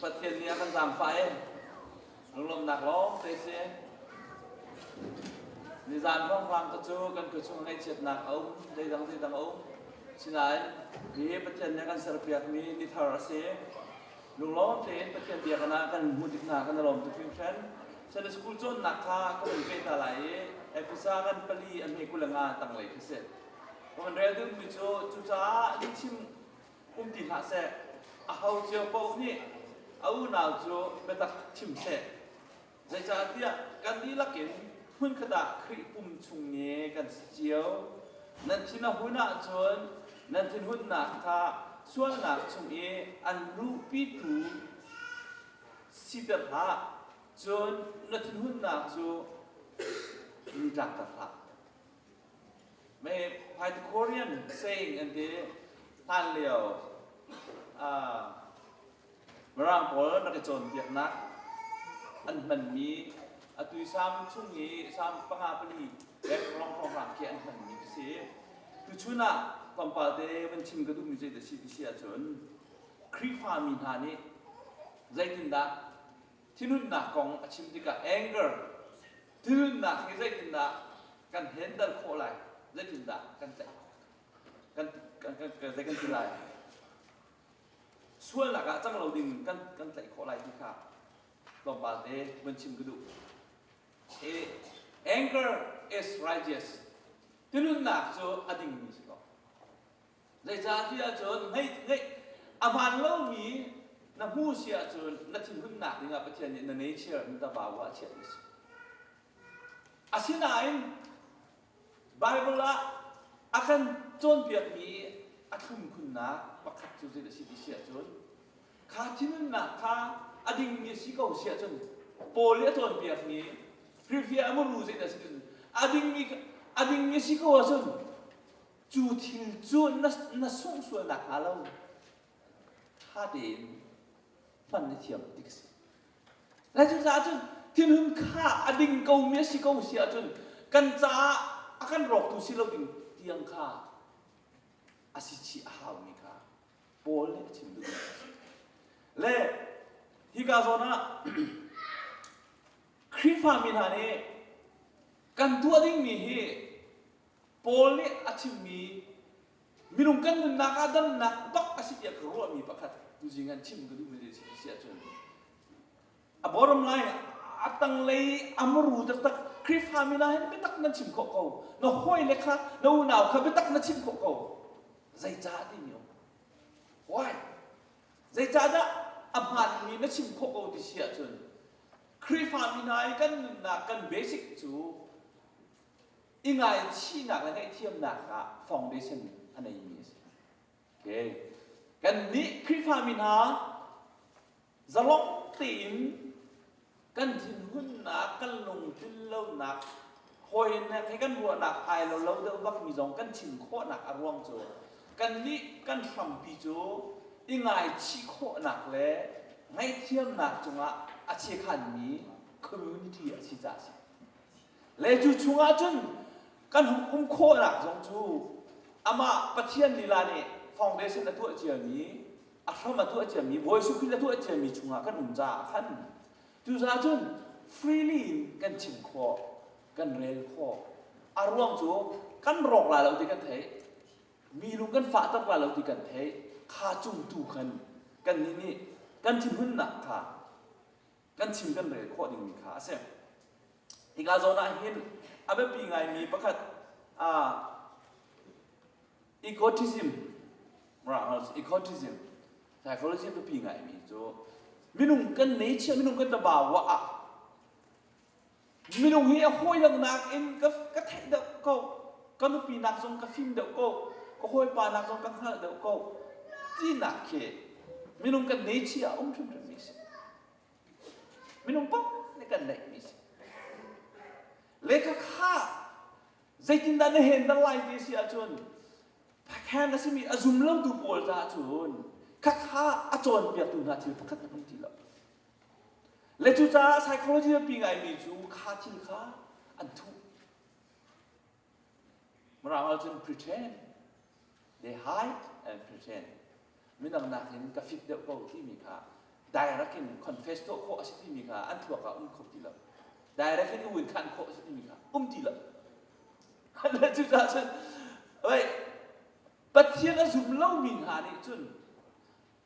Pathian nih a kan zaangfah i lunglawmhnak lawngte a si. Nizan ruanghrang te cu kan khuachung ngaihchiatnak a um, zeidang zeidang a um. Sinain hihi Pathian nih a kan serpiakmi tithar a si. Lunglawm tein Pathian biakinn ah kan hmuh tik hna kan i lawm tuk hringhran. Sunday school cawnnak kha ka vun peh hna lai i Efesa kan pali a hme kuleng ah tanglei khi si. Ka vun rel dingmi cu cucaah lihchim um ti hlah seh. Aho cio paoh nih a unau cu biatak chim seh. Zeicahtiah kan dihlak in hmunkhat ah Khrih pum chung i kan si cio. Nan thin a hun ahcun nan thinhunnak kha sualnak chung i an luhpitu siter hlah. Cun na thinhunnak cu lutlakter hlah. Pythagorean saying an ti. Hlan lio ah mirang pawl rak i cawnpiaknak an hmanmi atu i Salm chung i Salm panga pali dek hrawnghrang khi an hmanmi ka si. Tuchun ah tlawmpalte van chim ka duhmi zei dah si ti si ahcun Khrihfa mi hna nih zeitindah thinhunnak kong a chim tikah anger Thilnunnak hi zeitindah kan handle khawh lai? Zeitindah kan tlaih khawh? Kan, kan, kan, kan, zei kan ti lai? Sualnak ah cang lo ding kan, kan tlaih khawh lai ti kha tlawmpal te vun chim ka duh. Anger is righteous. Tinunnak cu a dingmi si ko. Zeicah ti ahcun ahmaan lomi na hmu si ahcun na thinhunnak dingah Pathian nih na nature in tabau ah a chiahmi a si. Asinain Bible ah a kan cawnpiakmi a thlum khunnak pakhat cu zeidah si ti si ahcun kha thinhunnak kha a dingmi si ko si ahcun Paul nih a cawnpiakmi firfiah a muru zeidah si ahcun a dingmi a dingmi si ko ahcun cu thil cu na sungsual nakhnga lo ṭha tein hman na thiam tik a si. Lai cucaah cun thinhun kha a ding komi a si ko si ahcun kan caah a kan rawktu si loin tiang kha a si chih a haumi kha Paul nih a chim duh Le hika zawn ah Khrihfa mi hna nih kan tuah dingmi hi Paul nih a chimmi minung kan nunnak ah damnak bak a si tiah ka ruahmi pakhat tuzing an chim ka duhmi si si ahcun a bottom line a tanglei a muru taktak Khrihfami na hin biatak nan chim khawh ko na hawile kha na unau kha biatak na chim khawh ko zeicah timi um why zeicahdah a hmaanmi na chim khawh ko ti si ahcun Khrihfami hna i kan nunnak kan basic cu i ngaichihnak le ngaihthiamnak kha foundation a neimi a si. Okay. Kannih Khrihfami hna zalong tein kan thinhunnak, kan lungtlin lonak, hawinak he kan ruahnak ai lo lo deuh bakmi zong kan thin khawhnak a ruang cu kannih kan hrampi cu i ngaichih khawhnak le ngaihthiamnak cungah a chiakhanmi community a si ca a si. Le cu chungah cun kan hung um khawhnak zong cu amah Pathian lila nih foundation a tuah ciami a hram a tuah ciami Bawi Jesuh Khrih a tuah ciami chungah kan um caah khan cucaah cun freely in kan chim khawh kan rel khawh a ruang cu kan rawk la lo ti kan theih mi lung kan fahter la lo ti kan theih kha cung tu khan kannih nih kan thinhunnak kha kan chim kan rel khawh dingmi kha a si. Hika zawn ah hin a biapi ngaimi pakhat uh, ecotism ecotism psychology biapi ngaimi cu minung kan nei chia minung kan taba wa ah Minung hi a hawi langnak in ka, ka theih deuh ko. Ka nupi nak zong ka fim deuh ko. Ka hawipa nak zong ka hngalh deuh ko. Tinak khi minung kan nei chi ah um hrimhrim mi si. Minung pam nih kan neih mi si. Leka kha zeitindah na hen dal lai te si ahcun Pathian a simi a zum lotu pawl caah cun khakha a cawnpiaktu hna thil pakhat hmanh an ti lo. Le cucaah psychology biapi ngaimi cu kha thil kha an thuh. Mirang ahcun pretend, they hide and pretend. Midang nakin ka fit deuh ko timi kha direct in confess tuah khawh a si timi kha an thluak ah um kho ti lo. Direct in uin khan khawh a si timi kha um ti lo. Le cucaah cun, wei, Pathian a zum lomi hna nih cun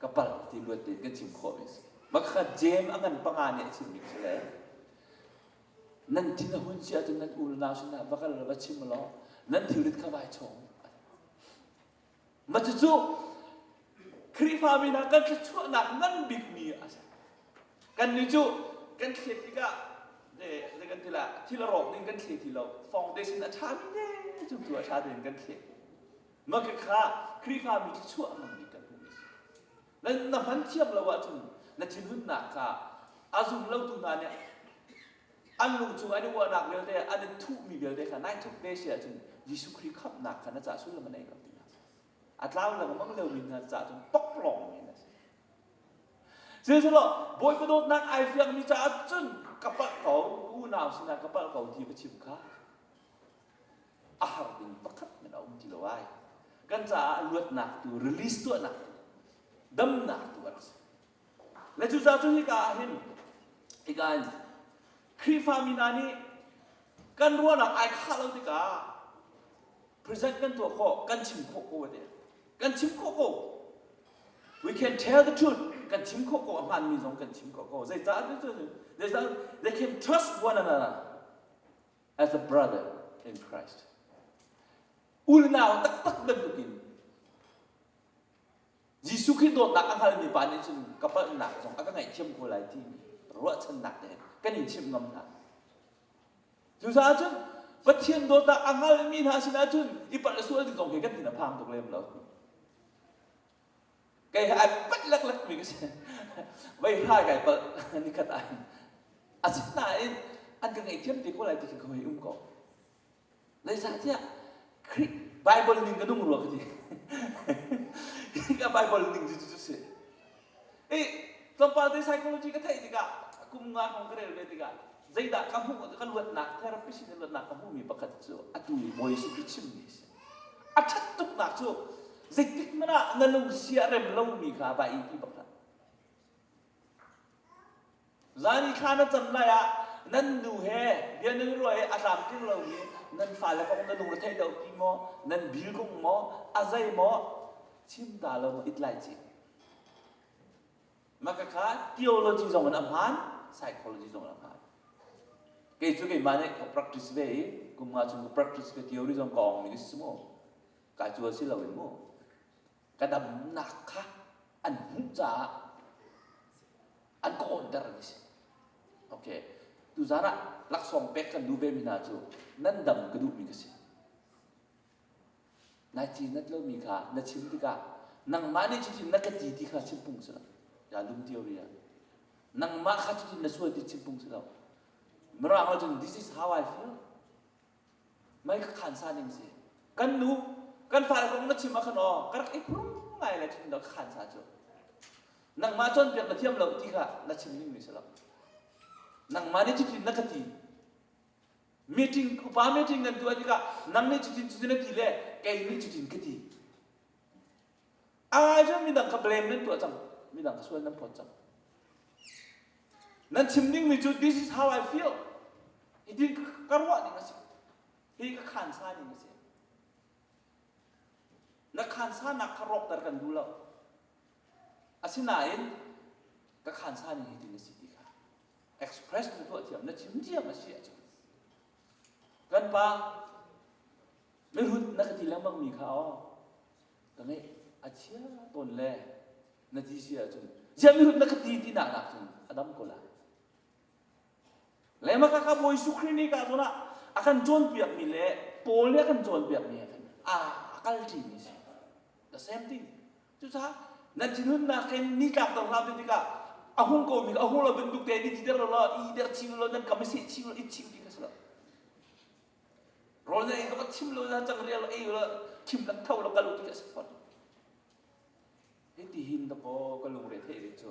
ka palh ti luat tein kan chim khawhmi a si. Bakhat Jem a ngan panga nih a chimmi khi le nan thin a hun si ahcun nan unau sinah va kal va chim law nan thilrit kha vai chawng. Mah cucu Khrihfami hna kan thluachuahnak ngan bikmi a si. Kannih cu kan thlet tikah zei kan ti lah thil a rawk ning kan thlet ti lo foundation a ṭhami ne cu tu a ṭha tein kan thlet. Mah kha Khrihfami cu chuahmangmi kan hmuhmi a si. Na hman thiam lo ahcun na thinhunnak kha a zumlotu hna nih an lungchung an i uahnak vialte, an i thuhmi vialte kha nine tuk te si ahcun Jesuh Khrih khamhnak kha na caah sullam a nei lo ti hna A tlau lengmang liomi hna caah cun pakpalawngmi na si. Sihmanhsehlaw Bawipa dawtnak ai fiangmi caah cun ka palh ko, unau sinah ka palh ko ti va chim kha a har ding pakhat men a um ti lo ai. Kan caah luatnak tu, release tuahnak tu, damnak tu a rak si. Le cu ca cun hika ah hin, hika in, Khrihfa mi hna nih kan ruahnak ai khah lo tikah, present kan tuah khawh, kan chim khawh ko te. Kan chim khawh ko. We can tell the truth. Kan chim khawh ko, a hmanmi zong kan chim khawh ko. Zeicah cu cu, zeicah, they can trust one another. as a brother in Christ. Unau taktak bantukin Jesuh Khrih dawtnak a hngalmi pa nih cun ka palhnak zong a ka ngaihthiam ko lai ti ruahchannak te kan in chimh ngam hna. Cucaah cun Pathian dawtnak a hngalmi hna sinah cun i palh sual ding zong khi kan thin a phang tuk lem lo. kei he ai pat leklek mi ka si vei hrai kai palh nikhat ah hin asinain an ka ngaihthiam te ko lai ti khin ka hoi um ko zeicahtiah Khrih Bible ning ka nung rua ka ti ka Bible ning cu cu si i tlawmpal te psychology ka theih tikah kum nga hrawng ka rel ve tikah zeidah ka hmuh ka luatnak therapist nih luatnak ka hmuhmi pakhat cu atu i bawi si khi chimmi a si A ṭhat tuknak cu zeitikhmanh ah na lungsi a rem lomi kha va i ti bak hlah. Zan i thla na cam lai ah nan nu he bianungrua he a tlamtling lomi nan fale kong na lungretheih lo ti maw nan bilkung maw a zei maw chim ta lo maw it lai ci Maka kha theology zong in a hmaan, psychology zong in a hmaan. Kei cu keimah nih ka practice ve i kum nga chung ka practice ve theory zong ka ong ning a si mu. Ka cu a si lo in mu. Ka damnak kha an hmuh caah an ka awnter an si. Okay. Tuzan ah laksawng pek kan duh ve mi hna cu nan dam ka duhmi ka si. Nai ci nat lomi kha na chim tikah nangmah nih cutin na ka ti ti kha chimpung si lo. Ya lum dio ri ah. Nangmah kha cutin na sual ti chimpung si lo. Mirang ah cun this is how I feel. Mai ka khan sa ning si. Kan nu, kan fale kong na chim ah khan aw, ka rak i phurum ngai le cutin na ka khan sa cu. Nangmah cawnpiak na thiam lo ti kha na chim ning mi si lo. Nangmah nih cutin na ka ti meeting upa meeting kan tuah tikah nang nih cutin cutin na ti le kei nih cutin ka ti ah cun midang kha blame nan tuah cang midang kha sual nan phawt cang nan chim dingmi cu this is how I feel iti ka ruah ding a si hi ka khansa ding a si na khansa nak kha rawkter kan duh lo asinain ka khansa ning hitin a si ti kha express tu tuahthiam na chim diam a si ahcun kan pa mirut na ka ti lengmang mi kha aw ka nge a chia tawn le na ti si ahcun zia mirut na ka ti ti nak nak cun a dam ko lai le maka ka bawi su kri ni ka zun ah a kan cawn piak mi le paul le a kan cawn piak mi he khan a kal ṭi mi si the same thing Cucaah nan thinhunnak in nitlak dor hna ti tikah a hung ko mi a hung lo bantuk te ni ti dek lo lo i dek ching lo nan kam i seh ching lo i ching ti ka si lo rawl na ei tuk chim lo na cang rial lo ei lo thim lak tho lo kal u ti ka si fawn hiti hin na paw ka lungre thei ve cu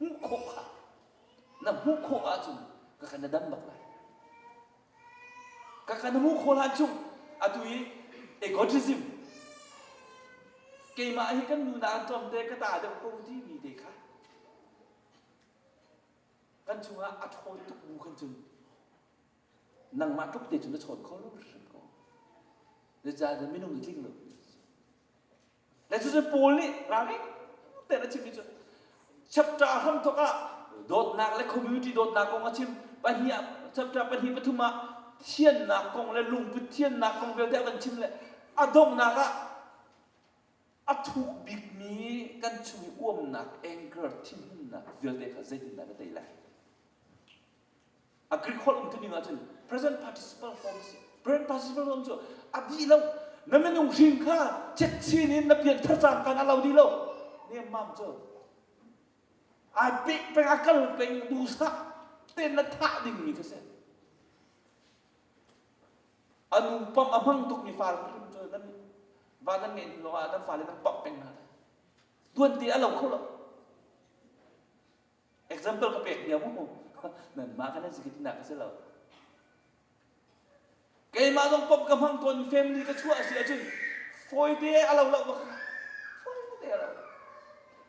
hmuh khawh ah na hmuh khawh ahcun ka kan na dam bak lai ka kan hmuh khawh lan chung atu i egotism keimah hi kan nu nak an tlawm te ka ta deuh ko timi te kha kan chungah a ṭhaw tuk bu kan cun nangmah tluk te cun na chawn kho lo hrim ko na caah minung nih tling lo Na cucu Paul nih ralring tein a chimmi cu chapter hramthok ah dawtnak le community dawtnak kong a chim pahnih ah chapter pahnih pathum ah thiannak kong le lungput thiannak kong vialte a kan chim le a donghnak ah a thuk bikmi kan chung i uamnak anchor thinhunnak vialte kha zeitindah ka tei lai Agriculture umtuning ahcun present participle form a si. Present participle form cu a dih lo. Na minung hrin kha cetchin in na pianthar cang kan a lo dih lo. Nemmam cu. Ai pek peng a kal peng duhsah tein na thah dingmi khi si. A nu pam a hmang tukmi far krim cu nan va nan ngeih lawngah nan fale nan pamh peng hna. Duan te a lo kho lo. Example ka pek nia mu. Nanmah kan zikit nak ka si lo. Keimah zong pom ka hmang tawn family ka chuah si ahcun fawi te a lo lo bak. Fawi te a lo.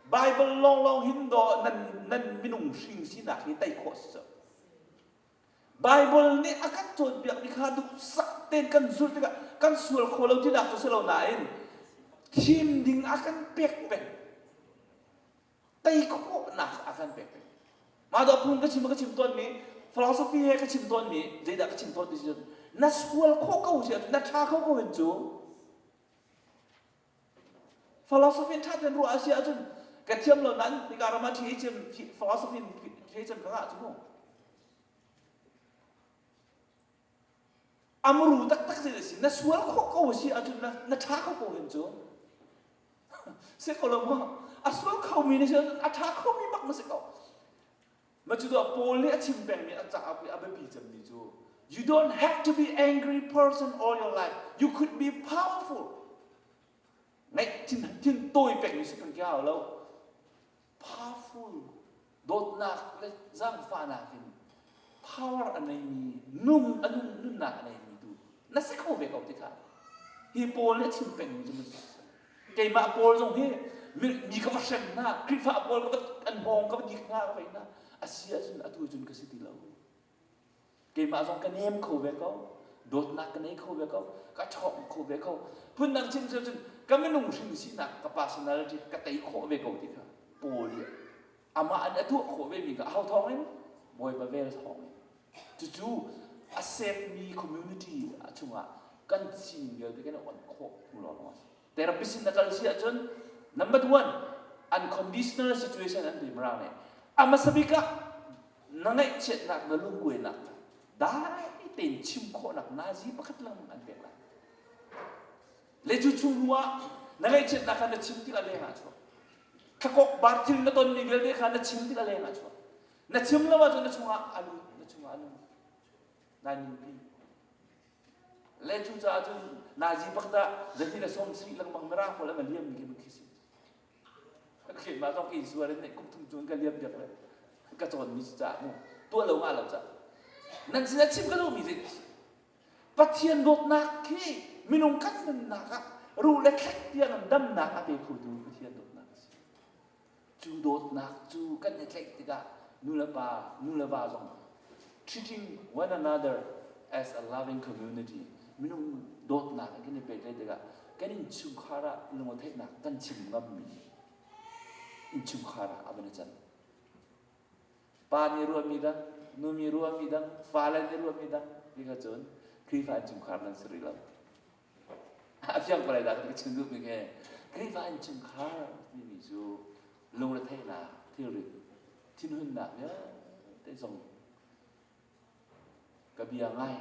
Bible lawnglawng hin do nan nan minung hring sinak hi tei khawh si so. Bible nih a kan cawn piak mi kha duhsah tein kan zulh tikah kan sual kho lo tinak cu si lo nain thim ding a kan pek peng. tei khawhnak a kan pek peng. Mah dawh phung ka chim ka chim tawnmi philosophy he ka chim tawnmi zeidah ka chim tawnmi si cun na sual khawh ko si na ṭha kho ko hin cu philosophy in ṭha tein ruah a si ahcun ka thiam lo nan nika ram ah ṭhi cem philosophy in ṭhi cem ka ngah cu mu A muru taktak zeil a si. Na sual khawh ko a si ahcun na, na ṭha kho ko hen cu. si ko lo maw? A sual khomi nih cun a ṭha khomi bak na si ko. Ma cu tuah Paul nih a chim pengmi a caah a biapi cemmi cu You don't have to be angry person all your life. You could be powerful. Ngaih thin, thin tawi pengmi si kan kia lo. powerful, dawtnak le zaangfahnak in power a neimi, nung a nung, nunnak a neimi tu na si kho ve ko ti kha hi Paul nih a chim pengmi cu keimah Paul zong hi mi ka va hrem hna Khrihfa Paul ka va an hawng ka va dik hna ka va na a si ahcun atu cun ka si ti lo keimah zong ka nem kho ve ko dawtnak ka nei kho ve ko ka chawk kho ve ko phundang chim cio cun ka minung hrim sinak ka personality ka tei khawh ve ko ti kha paul i amah an atuah khawh ve mi kha hau thawng in bawipa vel thawng in cucu a sekmi community a chungah kan sining vialte kan i awnh khawh hnu lawng a si Therapist in na kal si ahcun number one, unconditional situation an pem rang lai. A hmasa bik ah na ngaihchiatnak, na lungkuainak kha dai tein chim khawhnak nazi pakhat lang an pek lai. Le cu chung hnu ah na ngaihchiatnak kha na chim tik a leng ah chuak. Thakok bar thil na tonmi vialte kha na chim tik a leng ah chuak. Na chim lo ahcun na chungah a lut, na chungah a nung. Nai nunpi. Le cucaah cun naizi pak tah zahni le som sri lengmang na ra pawl an liam mi khi mun khi si ka khin ma zong ka in suar in ne kum thum chung ka liam piak le ka cawn mi ca mu tua lo nga lo ca nan sin a chim ka duh mi dik Pathian dawtnak khi minung kan nunnak ah ruh le thlek tiang an damnak a pe khotu Pathian dawtnak a si Cu dawtnak cu kan i tlaih tikah nulepa, nuleva zong treating one another as a loving community minung dawtnak in kan i pehtlaih tikah kan innchungkhar ah lungatheihnak kan chim ngammi innchungkhar ah a van i can. Pa nih ruahmi dang, nu nih ruahmi dang, fale nih ruahmi dang, ti kha cun Khrihfa innchungkhar nan si rih lo. a fiang pala dah ka chim duh mi khi Khrihfa innchungkhar timi cu lungretheihnak thilri thinhunnak vialte zong ka bia ngai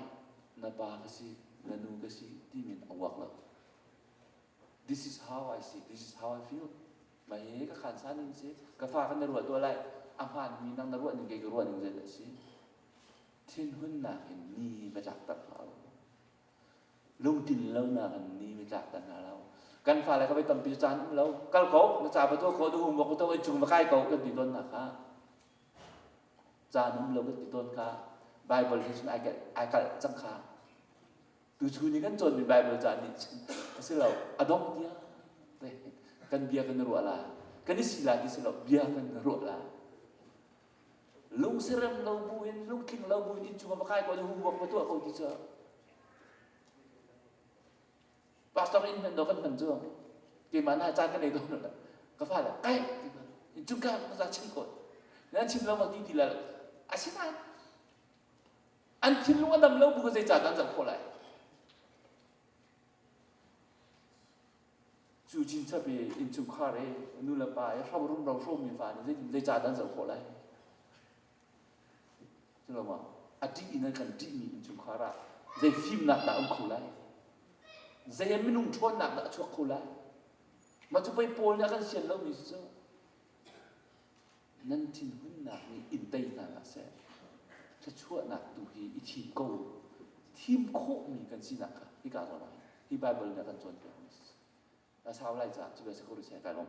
na pa ka si na nu ka si timi in a uak lo this is how I see this is how I feel ma hi ka khan sa ning si ka fa kan na ruah tuah lai a hmaan mi nang na ruah ning kei ka ruah ning zet a si thinhunnak in ni va chak tak hlah u lungthin lonak in ni mi tlak ta hna lo kan fale ka bei tampi cu caan um lo kal ko na ca pa tuah khawh duk um ko to in chung va kai ko kan ti tawn na kha caan um lo kan ti tawn kha Bible hi cun ai kalh ai kalh cang kha tu chun in kan cawnmi Bible caan nih cun a si lo a dongh tiang te kan bia kan i ruah la kan i si la ti si lo bia kan i ruah la Lungsirem lo bu in lungtling lo bu in inn chungah va kai ko le homework va tuah ko ti cu pastor inn hman do kan hman cu keimah na caan ka nei dawn lo ka fa le kai ti ma in cung ka ka za chim ko nan chim lo ma ti ti la asinain an thinlung a dam lo bu zeicah kan zoh khawh lai cu chin chap i innchungkhar i nu le pa i hram rumro hrawmi fa nih zeitin zei caah an zoh khawh lai culoma a ṭih in an kan ṭihmi innchungkhar ah zei fimnak dah a um kho lai zei minung ṭhawnnak dah a chuak kho lai mah cu pei pawl nih a kan sian lomi cu nan thinhunnak nih in tei hna hlah seh. Thluachuahnak tu hi i thi ko. Thim khawhmi kan sinak kha hika zong ah hi Baibal nih a kan cawnpiakmi a si. A sau lai caah cu ve si ko rih seh kai lawm.